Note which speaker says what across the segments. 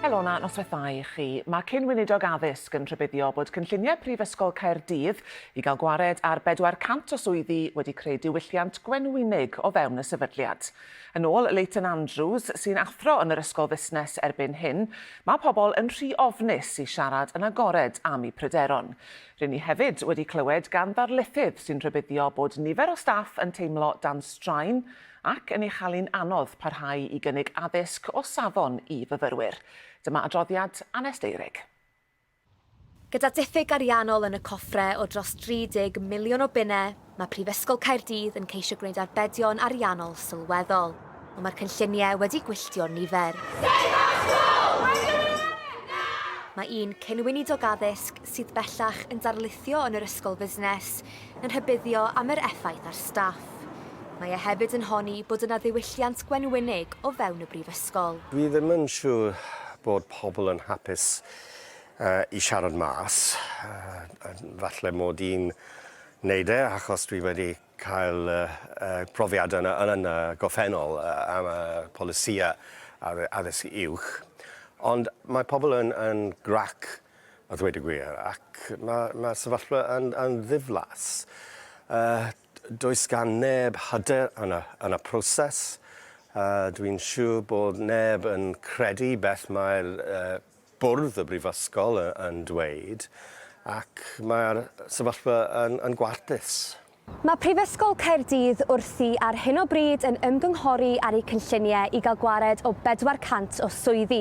Speaker 1: Elona, noswaith dda i chi. Mae cyn weinidog addysg yn rhybuddio bod cynlluniau Prifysgol Caerdydd i gael gwared ar 400 o swyddi wedi creu diwylliant gwenwynig o fewn y sefydliad. Yn ôl Leighton Andrews, sy'n athro yn yr Ysgol Fusnes erbyn hyn, mae pobl yn rhy ofnus i siarad yn agored am eu pryderon. Rŷn ni hefyd wedi clywed gan ddarlithydd sy'n rhybuddio bod nifer o staff yn teimlo dan straen ac yn ei chael-hi'n anodd parhau i gynnig addysg o safon i fyfyrwyr. Dyma adroddiad Anest Eyrig.
Speaker 2: Gyda diffyg ariannol yn y coffre o dros 30 miliwn o bunnau, mae Prifysgol Caerdydd yn ceisio gwneud arbedion ariannol sylweddol, ond mae'r cynlluniau wedi gwylltio nifer. Mae un cyn-weinidog addysg, sydd bellach yn darlithio yn yr Ysgol Fusnes, yn rhybuddio am yr effaith ar staff. Mae e hefyd yn honni bod yna ddiwylliant gwenwynig o fewn y Brifysgol. Dwi ddim yn siŵr
Speaker 3: bod pobl yn hapus i siarad mas. Falle mod i'n neud e achos dwi wedi cael y profiad yn y gorffennol am y polisïau addysg uwch. Ond mae pobl yn grac a ddweud y gwir, ac mae'r ma sefyllfa yn, yn ddiflas. Uh, does gan neb hyder yn y, yn y proses. Uh, Dwi'n siŵr bod neb yn credu beth mae'r uh, bwrdd y brifysgol yn, yn dweud, ac mae'r sefyllfa yn, yn gwarthus. Mae Prifysgol
Speaker 2: Caerdydd wrthi ar hyn o bryd yn ymgynghori ar eu cynlluniau i gael gwared o 400 o swyddi.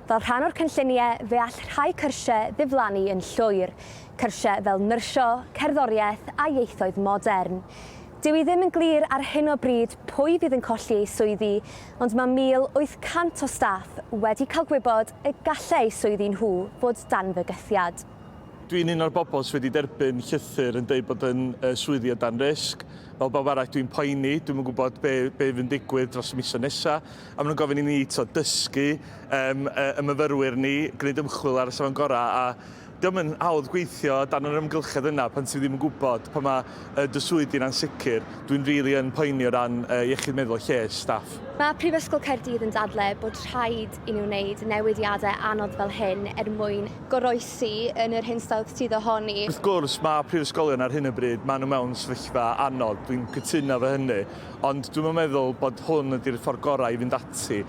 Speaker 2: Fel rhan o'r cynlluniau, fe all rhai cyrsiau ddiflannu yn llwyr, cyrsiau fel nyrsio, cerddoriaeth a ieithoedd modern. Dyw hi ddim yn glir ar hyn o bryd pwy fydd yn colli eu swyddi, ond mae 1,800 o staff wedi cael gwybod y gallai eu swyddi nhw fod dan fygythiad. Dwi'n un o'r
Speaker 4: bobl sydd wedi derbyn llythyr yn dweud bod yn uh, swyddi o dan risg. Fel bawb arall, dwi'n poeni, dwi'n yn gwybod be, be fy'n digwydd dros y misoedd nesaf. A maen nhw'n gofyn i ni to, dysgu um, y myfyrwyr ni, gwneud ymchwil ar y safon gorau. A diolch yn hawdd gweithio dan yr ymgylchedd yna pan ti ddim yn gwybod pan mae yy dy swydd di'n ansicr. Dwi'n rili yn poeni o ran yy iechyd meddwl a lles staff. Mae Prifysgol
Speaker 2: Caerdydd yn dadle bod rhaid i nhw wneud newidiadau anodd fel hyn er mwyn. Goroesi yn yr hinsawdd sydd ohoni. Wrth gwrs, mae
Speaker 4: prifysgolion ar hyn o bryd, maen nhw mewn sefyllfa anodd, dwi'n cytuno efo hynny, ond dwi'm yn meddwl bod hwn ydi'r ffordd gorau i fynd ati.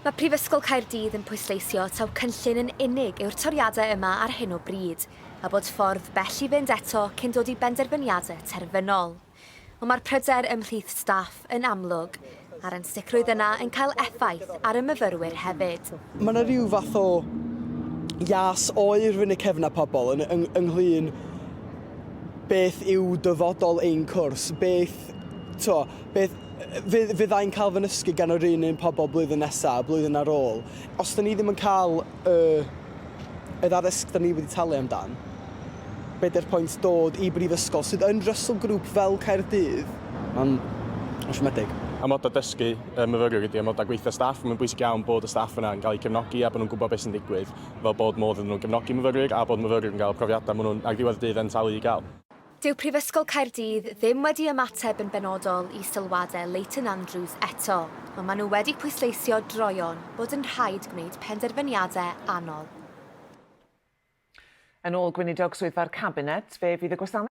Speaker 4: Mae Prifysgol
Speaker 2: Caerdydd yn pwysleisio taw cynllun yn unig yw'r toriadau yma ar hyn o bryd, a bod ffordd bell i fynd eto cyn dod i benderfyniadau terfynol. Ond mae'r pryder ymhlith staff yn amlwg, a'r ansicrwydd yna yn cael effaith ar y myfyrwyr hefyd. Mae yna rhyw fath
Speaker 5: o ias oer rhwng y cefnau pobl yn, yng, ynglyn beth yw dyfodol ein cwrs, beth, to, Beth fydd, fyddai'n cael fy nysgu gan yr un un pobl blwyddyn nesaf a blwyddyn ar ôl? Os da ni ddim yn cael y, y ddaddysg da ni wedi talu amdan, bedair pwynt dod i brifysgol sydd yn Russell Group fel Caerdydd? Mae'n siomedig. Amodau dysgu
Speaker 6: y myfyriwr ydy amodau gweithio staff. Mae'n bwysig iawn bod y staff yna yn cael eu cefnogi a bod nhw'n gwybod beth sy'n digwydd, fel bod modd iddyn nhw gefnogi myfyrwyr a bod myfyrwyr yn cael y profiadau maen nhw'n ar ddiwedd y dydd yn talu i gael. Dyw Prifysgol
Speaker 2: Caerdydd ddim wedi ymateb yn benodol i sylwadau Leighton Andrews eto, ond maen nhw wedi pwysleisio droeon bod yn rhaid gwneud penderfyniadau
Speaker 1: anodd. Yn ôl Gweinidog Swyddfa'r
Speaker 2: Cabinet,
Speaker 1: fe fydd y gwasanaeth.